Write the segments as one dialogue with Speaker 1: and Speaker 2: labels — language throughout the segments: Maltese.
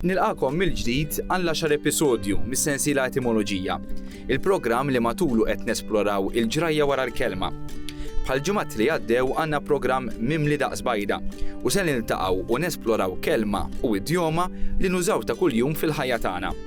Speaker 1: Nilqakom mill-ġdid għal xar episodju mis-sensiela Etimoloġija, il-programm li matulu qed nesploraw il-ġrajja wara l-kelma. Bħal ġumat li għaddew għandna programm mimli daqs bajda u se niltaqgħu u nesploraw kelma u idjoma li nużaw ta' kuljum fil-ħajja tagħna.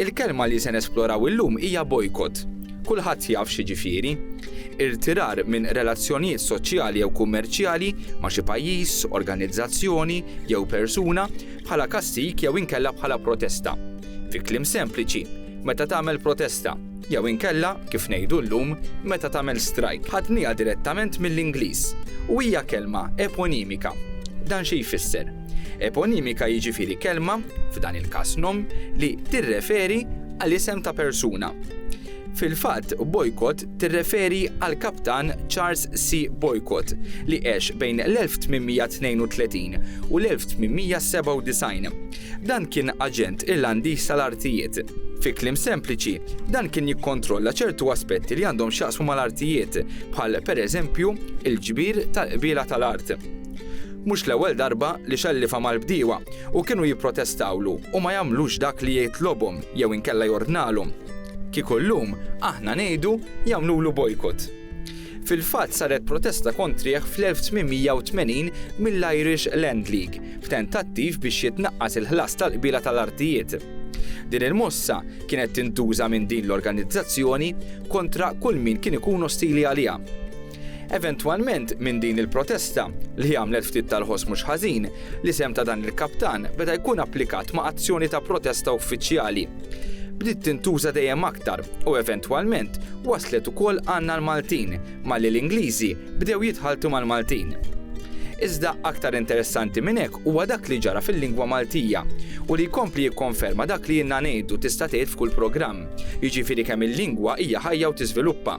Speaker 1: Il-kelma li se nesploraw illum hija boycott. Kulħadd jaf x'jiġifieri. Irtirar minn relazzjonijiet soċjali jew kummerċjali ma' xi pajjiż, organizzazzjoni, jew persuna bħala kastig jew inkella bħala protesta. Fi kliem sempliċi, meta tagħmel protesta, jew inkella, kif ngħidu llum, meta tagħmel strajk. Ħadniha direttament mill-Ingliż, u hija kelma eponimika. Dan xi jfisser? Eponimika jiġifieri kelma, f'dan il-każ nom, li tirreferi għal isem ta' persuna. Fil-fatt, Boycott tirreferi għall-kaptan Charles C. Boycott, li għex bejn l-1832 u l-1897. Dan kien aġent Irlandiż tal-artijiet. Fi kliem sempliċi, dan kien jikkontrolla ċertu aspetti li għandhom x'jaqsmu mal-artijiet, bħal pereżempju, il-ġbir tal-qbiela tal-art. Mhux l-ewwel darba li xellifa mal-bdiewa u kienu jipprotestawlu u ma jagħmlux dak li jitlobhom jew inkella jordnalhom. Kieku llum aħna ngħidu jagħmlulu bojkot. Fil-fatt saret protesta kontrih fl-1880 mill-Irish Land League f'tentattiv biex jitnaqqas il-ħlas tal-qbiela tal-artijiet. Din il-mossa kienet tintuża minn din l-organizzazzjoni kontra kull min kien ikun ostili għaliha. Eventwalment, minn din il-protesta, li għamlet ftit tal-ħoss mhux ħażin, l-isem ta' dan il-kaptan beda jkun applikat ma' azzjoni ta' protesta uffiċjali. Bdiet tintuża dejjem aktar u eventwalment waslet ukoll għandna l-Maltin, malli l-Ingliżi bdew jitħalltu mal-Maltin. Iżda aktar interessanti minn hekk huwa dak li ġara fil-lingwa Maltija u li jkompli jikkonferma dak li ilna ngħidu tista' tgħid f'kull programm, jiġifieri kemm il-lingwa hija ħajja u tiżviluppa.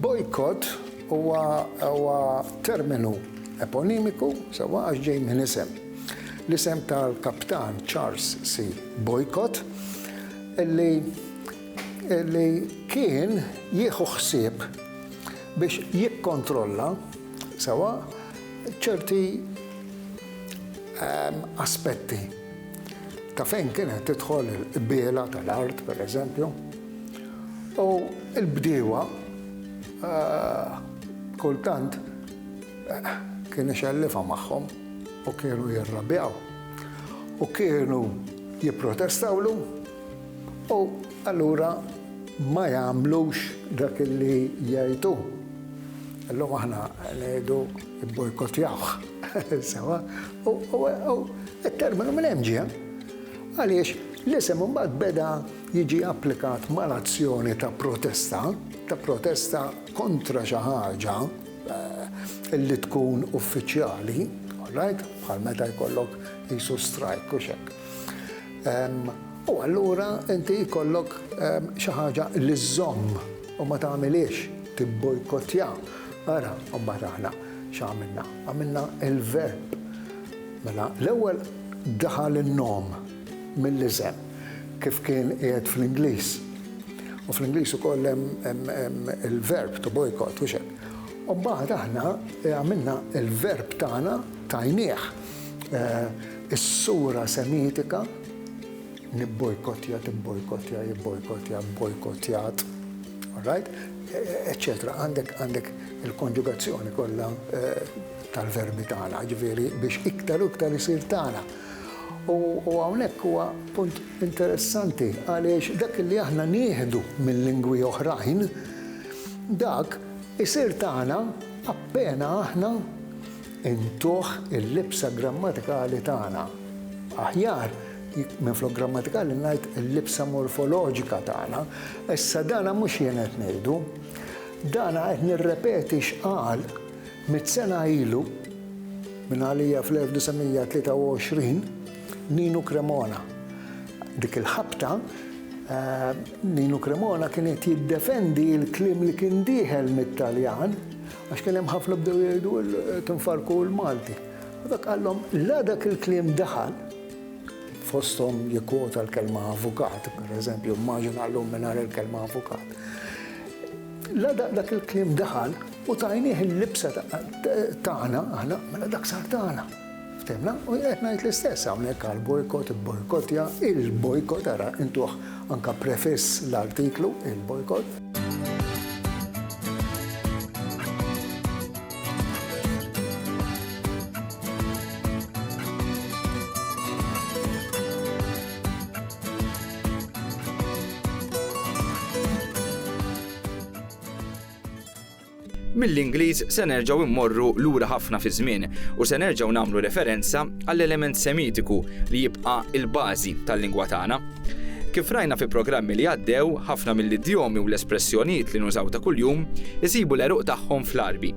Speaker 2: Bojkott huwa terminu eponimiku sewwa għax ġej minn isem. L-isem tal-kaptan Charles C. Boycott li li kien jieħu ħsieb biex jikkontrolla sewwa ċerti ehm, aspetti ta' fejn kienet tidħol il-qbiela tal-art, per eżempju, u l-bdiewa kultant kien ixellifha magħhom u kienu jirrabjaw u kienu jipprotestawlu u allura ma jagħmlux dak li jgħid hu. Illum aħna ngħidu ibbojkottjawh, sewwa? U t-terminu minn hemm ġie għaliex l-isem imbagħad beda jiġi applikat mal-azzjoni ta' protesta, ta' protesta kontra xi ħaġa li tkun uffiċjali, all right, bħal meta jkollok qisu strajk u x'hekk. U allura inti jkollok xi ħaġa li żżomm u ma tagħmilhiex, tibbojkottja. Ara, imbagħad aħna. X'għamilna? Għamilna l-verb. Mela, l-ewwel daħal in-nom mill-iżem kif kien qiegħed fl-Ingliż. U fl-Ingliż ukoll hemm il-verb to boycott u xek. U mbagħad aħna eh, għamilna il-verb tagħna tajnieh eh, is-sura semitika Nibbojkottja, tibbojkottja, jibbojkottja, bojkottjat, all right? eċċetera. Għandek għandek il-konġugazzjoni kollha tal-verbi tagħna, ġifieri biex iktar u iktar isir tagħna. U hawnhekk huwa punt interessanti għaliex dak li aħna nieħdu minn lingwi oħrajn, dak isir tagħna appena aħna Intuh il-libsa grammatikali tagħna. Aħjar minflok grammatikali ngħid il-libsa morfoloġika tagħna. Issa dana mhux jien qed ngħidu. Dana qed nirrepeti x'qal mitt sena ilu minn għalija fl-1923 Ninu Cremona. Dik il-ħabta eh, Ninu Cremona kien qed jiddefendi l-kliem li kien dieħel mit-Taljan Għax kien hemm ħafna bdew jgħidu tinfarku l-Malti. U dak qallhom la dak il-kliem daħal fosthom jikkwota l-kelma avukat, per eżempju, immaġina llum mingħajr il-kelma avukat. La dak il-kliem daħal u tajnieh il-libsa tagħna aħna mela dak sar tagħna. Ftemna u jien qed ngħid l-istess hawnhekk għall-bojkott, ibbojkottja, il-bojkott, ara intuh anke prefiss l-artiklu, il-bojkott.
Speaker 1: Mill-Ingliż se nerġgħu mmorru lura ħafna fiż-żmien u se nerġgħu nagħmlu referenza għall-element Semitiku li jibqa' l-bażi tal-lingwa tagħna. Kif rajna fi programmi li għaddew, ħafna mill-idjomi u l-espressjonijiet li nużaw ta' kuljum isibu l-għeruq tagħhom fl-Għarbi.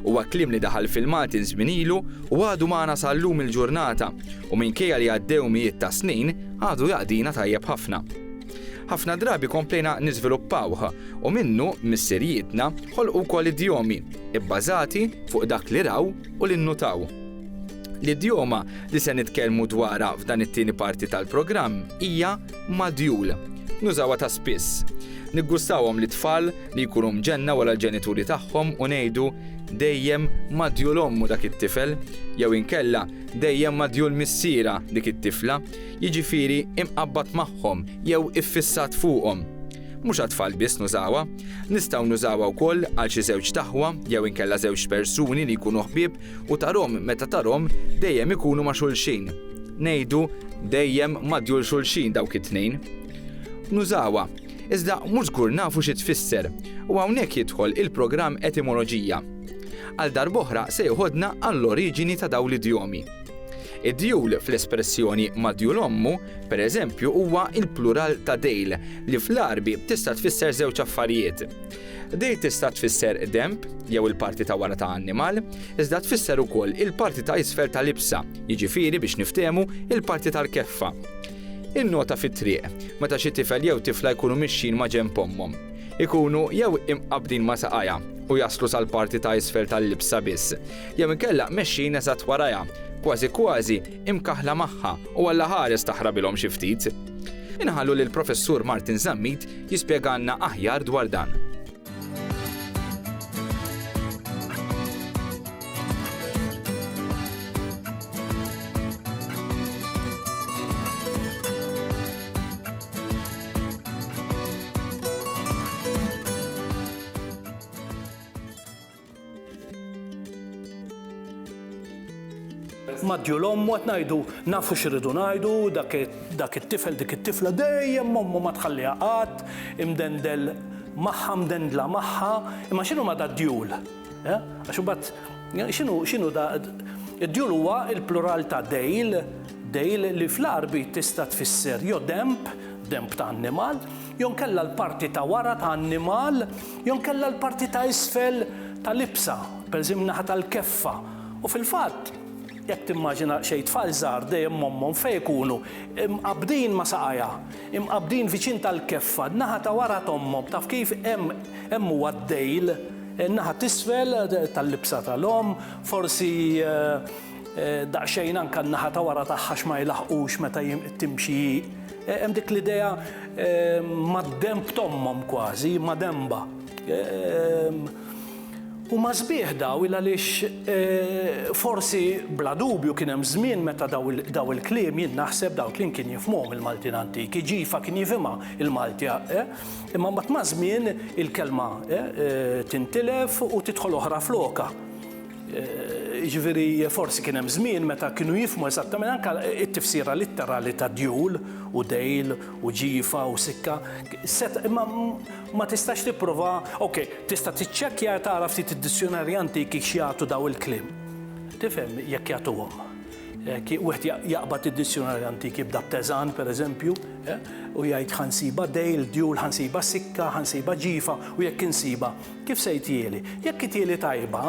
Speaker 1: Huwa kliem li daħal fil-Maltin żmien ilu u għadu magħna sa llum il-ġurnata u minkejja li għaddew mijiet ta' snin għadu jaqdina tajjeb ħafna. Ħafna drabi komplejna niżviluppawh, u minnu missirijietna ħolqu wkoll idjomi, ibbażati fuq dak li raw u li nnutaw. L-idjoma li se nitkellmu dwarha f'dan it-tieni parti tal-programm hija madjul. Nużawha ta' spiss. Niggustawhom lit-tfal li jkunu mġenna wara l-ġenituri tagħhom u ngħidu, Dejjem madjul ommu dak it-tifel, jew inkella, Dejjem madjul missierha dik it-tifla. jiġifieri imqabbad magħhom jew iffissat fuqhom. Mhux għat-tfal biss nużawha, nistgħu nużawha wkoll għal xi żewġt aħwa jew inkella żewġt persuni li jkunu ħbieb u tarhom meta tarhom dejjem ikunu ma' xulxin. Ngħidu dejjem madjur xulxin dawk it-tnejn. Nużawha, iżda mhux żgur nafu xi tfisser, u hawnhekk jidħol il-programm Etimoloġija. Għal darb'oħra se jeħodna għall-oriġini ta' dawn l-idjomi. Id-djul fl-espressjoni madjul ommu, pereżempju, huwa l-plural ta' dejl, li fl-Għarbi tista' tfisser żewġ affarijiet. Dejl tista' tfisser denb, jew il-parti ta' wara ta' annimal, iżda tfisser ukoll il-parti ta' isfel ta' libsa, jiġifieri biex niftehmu il-parti tal-keffa. In-nota fit-triq, meta xi tifel jew tifla jkunu mixjin ma' ġenb ommhom. Ikunu jew imqabbdin ma' saqajha u jaslu sal-parti ta' isfel tal-libsa biss, jew inkella mexjin eżatt warajha, kważi kważi imkaħħla magħha u alla ħares taħrabilhom xi ftit. Inħallu lill-Professur Martin Zammit jispjegalna aħjar dwar dan.
Speaker 3: Madju l-ommu qed ngħidu nafu x'irridu ngħidu, dak it-tifel dik it-tifla dejjem ommu ma tħalliha qatt, imdendel magħha, mdendla magħha, imma x'inhu ma' dad-djul? Eh? Għax imbagħad x'inhu x'inhu da id-djul huwa l-plural ta' dejl, dejl li fl-Għarbi tista' tfisser jew demb, demb ta' annimal, jew inkella l-parti ta' wara ta' annimal jew inkella l-parti ta' isfel ta' libsa, pereżempju min-naħa tal-keffa, u fil-fatt, jekk timmaġina, xejn tfal żgħar dejjem ommhom fejn ikunu? Imqabbdin ma' saqajha, imqabbdin viċin tal-keffa, n-naħa ta' wara t'ommhom, taf kif? Hemm, hemm huwa d-dejl, in-naħa t'isfel tal-libsa tal-omm, forsi daqsxejn anke n-naħa ta' wara tagħha għax ma jlaħqux meta hi timxi hi. Hemm dik l-idea mad-denb t'ommhom kważi, imma denbha. Huma sbieħ daw il għaliex forsi bla dubju kien hemm żmien meta daw il-kliem jien naħseb daw il-kliem kien jifhmuhom il-Maltin antiki, ġifa kien jifhimha il-Malti imma mbagħad maż-żmien il-kelma tintilef u tidħol oħra flokha. Jiġifieri forsi kien hemm żmien meta kienu jifhmu eżattament anke t-tifsira litterali ta' djul u dejl u ġifa u sikka. Seta' imma ma tistax tipprova, ok, tista' tiċċekkja e tara ftit id-dizjunarji antiki x'jagħtu daw il-kliem. Tifhem jekk jagħtuhom. Wieħed jaqbad id-dizjunarji antiki b'Daptezan, pereżempju, u jgħid ħa nsibha dejl, djul, ħa nsibha sikka, ħa nsibha ġifa u jekk insibha Kif se jtieli? Jekk itieli tajba,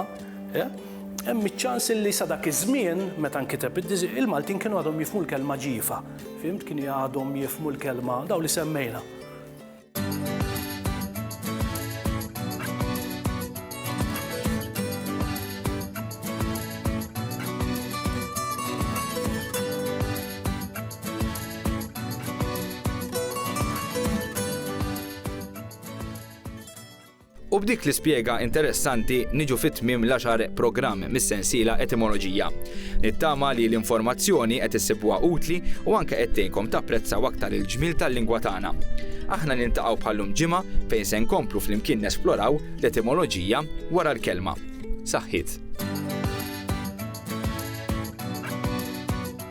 Speaker 3: hemm iċ-ċans li sa dak iż-żmien meta nkiteb il-Maltin kienu għadhom jifhmu l-kelma ġifa. Fhimt? Kien għadhom jifhmu l-kelma dawn li semmejna.
Speaker 1: U b'dik l-ispjega interessanti niġu fi tmiem l-għaxar programm mis-sensiela Etimoloġija. Nittama li l-informazzjoni qed issibuha utli u anke qed tgħinkom tapprezzaw aktar il-ġmiel tal-lingwa tagħna. Aħna niltaqgħu bħal-lum ġimgħa fejn se nkomplu flimkien nesploraw l-etimoloġija wara l-kelma. Saħħiet!